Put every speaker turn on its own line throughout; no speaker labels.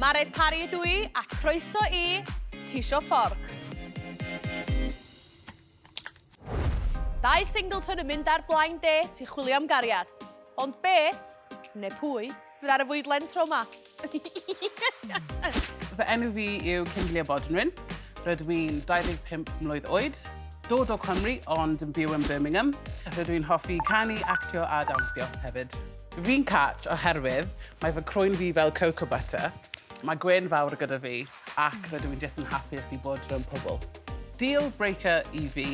Mare Parry ydw i, a croeso i Tisio Fforc. Dau Singleton yn mynd ar Blind Date i chwilio am gariad. Ond beth, neu pwy, fydd ar y fwydlen tro ma?
Fy enw fi yw Kimberley Bodnwyn. Rydw i'n 25 mlwydd oed, dod o Cymru ond yn byw yn Birmingham. Rydw i'n hoffi canu, actio a dawnsio hefyd. Fi'n cat oherwydd mae fy crwyn fi fel cocoa butter, mae gwên fawr gyda fi ac rydw i'n jyst yn hapus i bod rownd pobl. Deal breaker i fi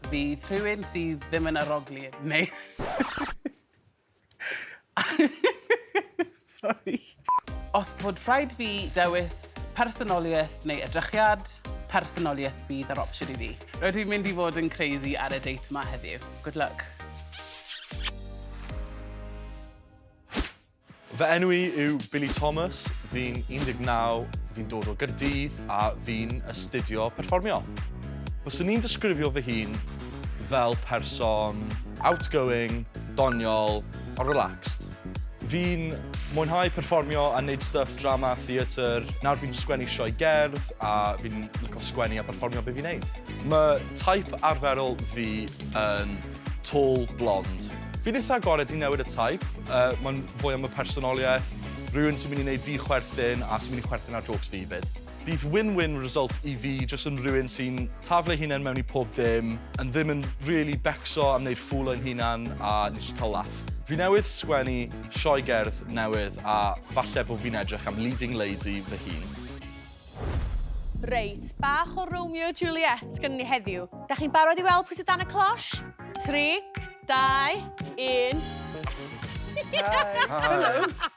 fydd rhywun sydd ddim yn arogli yn neis. Sori. Os bod rhaid fi dewis personoliaeth neu edrychiad, personoliaeth fydd yr opsiwn i fi. Rydw i'n mynd i fod yn crazy ar y date 'ma heddiw. Good luck.
Fy enw i yw Billy Thomas, fi'n 19, fi'n dod o Gaerdydd a fi'n astudio perfformio. Byswn i'n disgrifio fy hun fel person outgoing, doniol a relaxed. Fi'n mwynhau perfformio a wneud stuff drama, theatr. Nawr fi'n sgwennu sioe gerdd a fi'n licio sgwennu a perfformio be fi'n neud. Mae taip arferol fi yn tall, blond. Fi'n eitha agored i newid y taip, uh, mae'n fwy am y personoliaeth, rhywun sy'n mynd i wneud fi chwerthin a sy'n mynd i chwerthin ar jokes fi 'fyd. Bydd win-win result i fi jyst yn rhywun sy'n taflu ei hunain mewn i pob dim, yn ddim yn rili becso am wneud ffŵl o'n hunan a yn jyst cael laff. Fi newydd sgwennu sioe gerdd newydd a falle bod fi'n edrych am leading lady fy hun. Reit,
bach o Romeo a Juliet gynnon ni heddiw. Dach chi'n barod i weld pwy sy dan y closh? Tri, dau, un. Hi! Hi!
Helo!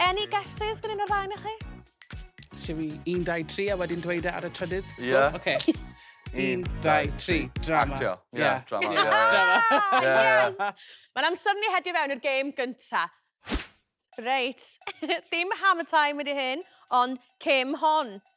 Any guesses gan un o'r ddau o'ch chi? Siw i
1, 2, 3 a wedyn dweud e ar y trydydd? Ie. Yeah. Oce. Okay. 1, 2, 3, drama. Actio. Ie, yeah, yeah. drama. Yeah.
Yeah. drama. Yeah. Yeah. Yeah.
Mae'n amser ni hedio fewn i'r gêm gynta. Reit, ddim hammer time wedi hyn, ond cym hon.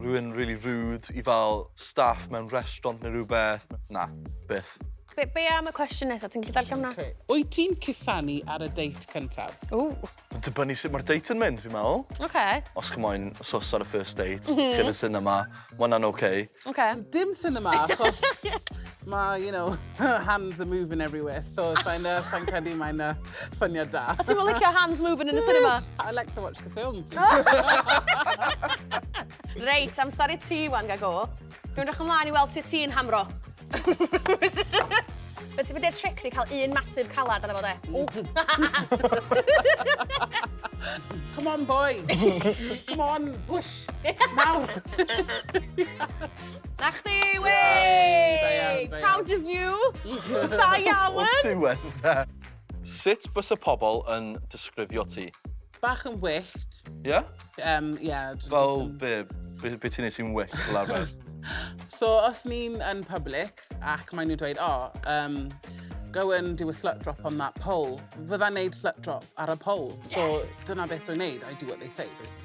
Rwy'n rili rude i fel staff mewn restaurant neu rhywbeth. Na, byth. Be, be am y
cwestiwn nesaf? Ti'n gallu darllen hwnna? Okay. Wyt ti'n cusanu
ar y date cyntaf? Ww. Mae'n
dibynnu sut mae'r
date yn mynd, fi'n meddwl. Oce. Okay. Os chi
moyn
sos ar y first date, mm -hmm. chi'n y cinema, mae hwnna'n oce. Okay. Okay. Dim
cinema,
achos... Mae, you know, her hands are moving everywhere, so sa'n uh, sa credu mae'n uh, syniad da. A ti'n licio hands moving
yn y cinema? I like to watch the
film.
Reit, amser i ti, wan, gago. Dwi'n rach ymlaen i weld sut ti'n hamro. Fe ti'n mynd i'r tric ni cael un masif calad arno fo de.
Come on, boy. Come on, push. Nawr.
Na chdi, wey! Proud
of you!
Da iawn! O diwedd de.
Sut bysa pobl yn disgrifio ti? Bach yn
wyllt. Ie? Um,
yeah,
Fel be,
be, be ti'n neud sy'n wyllt fel arfer? so os
ni'n yn public ac maen nhw'n dweud, oh, um, go and do a slut drop on that pole. Fydda'n neud slut drop ar y pole. So yes. dyna beth dwi'n neud, I do what they say, basically.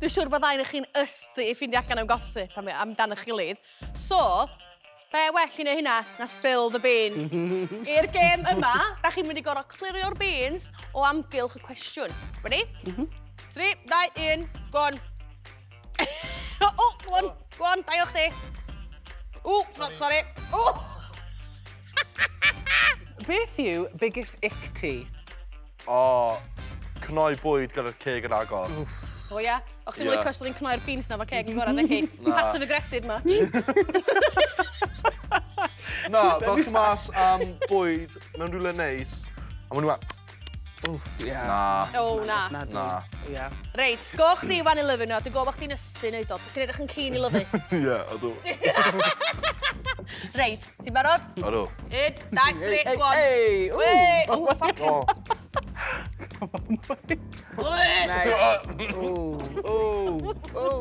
Dwi'n siŵr bod ddau o chi'n ysu i ffindio allan am gossip am- amdan eich gilydd. So, be well i neu hynna na spill the beans. I'r gêm yma, da chi'n mynd i gor'o' clirio'r beans o amgylch y cwestiwn. Ready? M-hm. Tri, dau, un, go on. O! O! Go on, go on, dau o chdi. Ww! So- sori. Ww!
Beth yw biggest ick ti? O,
cnoi bwyd gyda'r ceg yn agor. Wff. O ia?
O chdi'n licio os oedd hi'n cnoi'r beans
na
fo ceg yn gorau, dech chi? Passive aggressive ma.
Na, fel chi mas am bwyd mewn rhywle neis, a maen nhw a... Wff, ie.
Na. O, na.
Na. Na.
Ia.
Reit,
go chdi
fan i lyfu nhw, dwi'n gofod chdi'n ysu neud o, ti'n edrych yn cyn i lyfu. Ie, ydw. Reit, Ti'n barod? Odw. Un,
dau, tri,
go on. Ei! Ei! O,
ffoc! O.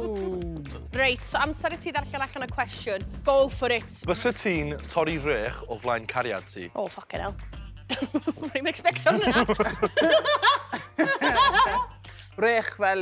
Reit, so amser i ti ddarllen allan y cwestiwn. Go for it. Fysa ti'n torri
rech o flaen cariad ti? O, ffoc yn el.
Rwy'n expecto hwnna.
Rech fel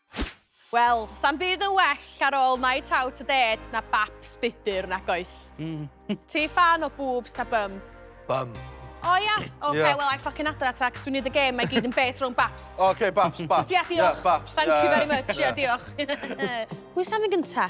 Wel, sa'm byd yn well ar ôl night out a dêt na baps budr, nag oes? Mm. Ti ffan o boobs ta bum? Bum.
O ia?
Oce, Ie. wel, I ffocin adra
ta, cos
dwi'n neud y gêm, mae gyd yn based rhwng baps. Oce, baps, baps. Ie,
diolch. Ie, baps.
Thank you very much,
ie,
diolch. Pwy sy'n mynd gynta?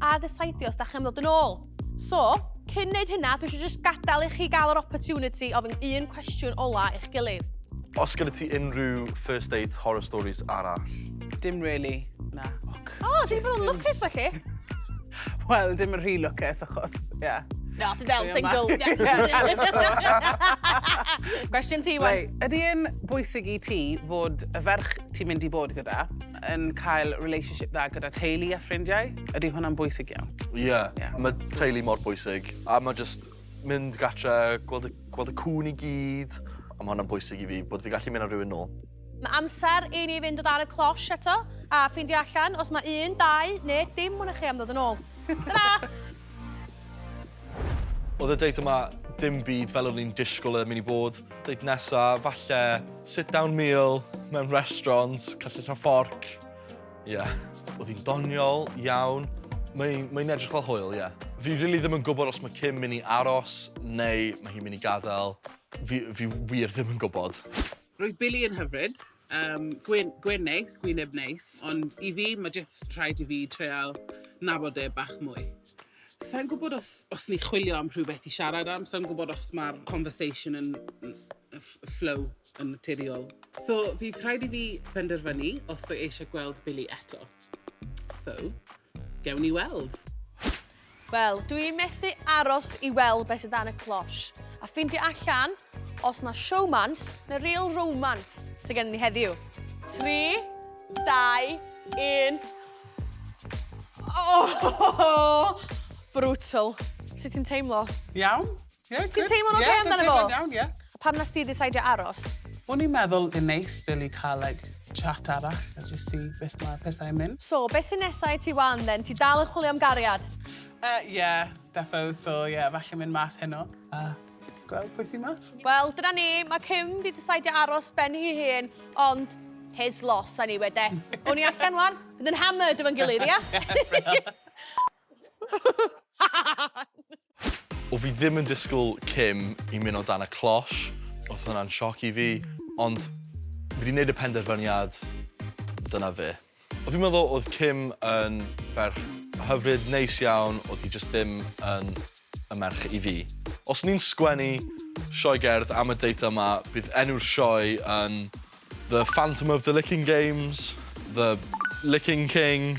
arall a desidio os da chi'n dod yn ôl. So, cyn neud hynna, dwi eisiau just gadael i chi gael yr opportunity ofyn un cwestiwn ola i'ch gilydd. Os gyda ti
unrhyw first date horror stories arall? Dim really,
na. O, oh, ti'n bod yn
lwcus felly? Wel,
dim yn rhy lwcus achos, ie. Yeah. No, ti'n del
single. Cwestiwn ti, wen. Ydy yn
bwysig i ti fod y ferch ti'n mynd i bod gyda yn cael relationship dda gyda teulu a ffrindiau, ydy hwnna'n bwysig iawn. Ie, yeah. yeah. mae
teulu mor bwysig. A mae just mynd gatre, gweld y, gweld y cwn i gyd, a mae hwnna'n bwysig i fi, bod fi gallu mynd ar rhywun nôl. Mae
amser i ni fynd o dan y closh eto, a ffeindio allan os mae un, dau, neu dim mwyn chi am ddod yn ôl. Ta-ra!
Oedd y date yma dim byd fel o'n i'n disgwyl yn mynd i bod. Date nesa, falle sit-down meal mewn restaurant, cyllell a fforc. Ie. Yeah. Oedd hi'n doniol iawn. Mae'n mae edrych fel hwyl, ie. Yeah. Fi rili really ddim yn gwybod os mae Kim mynd i aros neu mae hi'n mynd i gadael. Fi, fi wir ddim yn gwybod. Roedd Billy yn
hyfryd. Yym, gwên, gwên neis, gwyneb neis, ond i fi, mae jyst rhaid i fi treial nabod e bach mwy. Sa i'n gwybod os, os ni'n chwilio am rhywbeth i siarad am, sa i'n gwybod os mae'r conversation yn ff- flow yn naturiol. So, fydd rhaid i fi benderfynu os dw i eisiau gweld Billy eto. So, gewn ni weld. Wel,
dw i methu aros i weld beth sydd dan y cloche, a ffeindio allan os mae showmance neu real romance sydd gen ni heddiw. 3, 2, 1... Oh! Brutal. Sut ti'n teimlo? Iawn. Ie,
good. Ti'n teimlo'n oce okay amdano fo? Ie, dwi'n
teimlo'n iawn, ie. A pam nes
ti ddisaidio
aros? O'n i'n meddwl
yn neis, really, cael, like, chat arall a just see beth mae pethau'n mynd. So, beth sy'n nesau i
ti wan, then? Ti dal yn chwilio am gariad? Ie, uh, yeah,
defo. So, ie, yeah, falle mynd mas heno. A uh, just gweld pwy sy'n mas. Wel, dyna ni. Mae
Kim wedi disaidio aros ben hi hun, ond his loss, a ni wede. O'n i allan wan, bydd yn hammered efo'n gilydd, ia?
O fi ddim yn disgwyl Kim i mynd o dan y closh, oedd hwnna'n sioc i fi, ond fi wedi gwneud y penderfyniad, dyna fe. O fi'n meddwl oedd Kim yn ferch hyfryd, neis iawn, oedd hi jyst ddim yn y merch i fi. Os ni'n sgwennu sioe gerdd am y date yma, bydd enw'r sioe yn The Phantom of the Licking Games, The Licking King.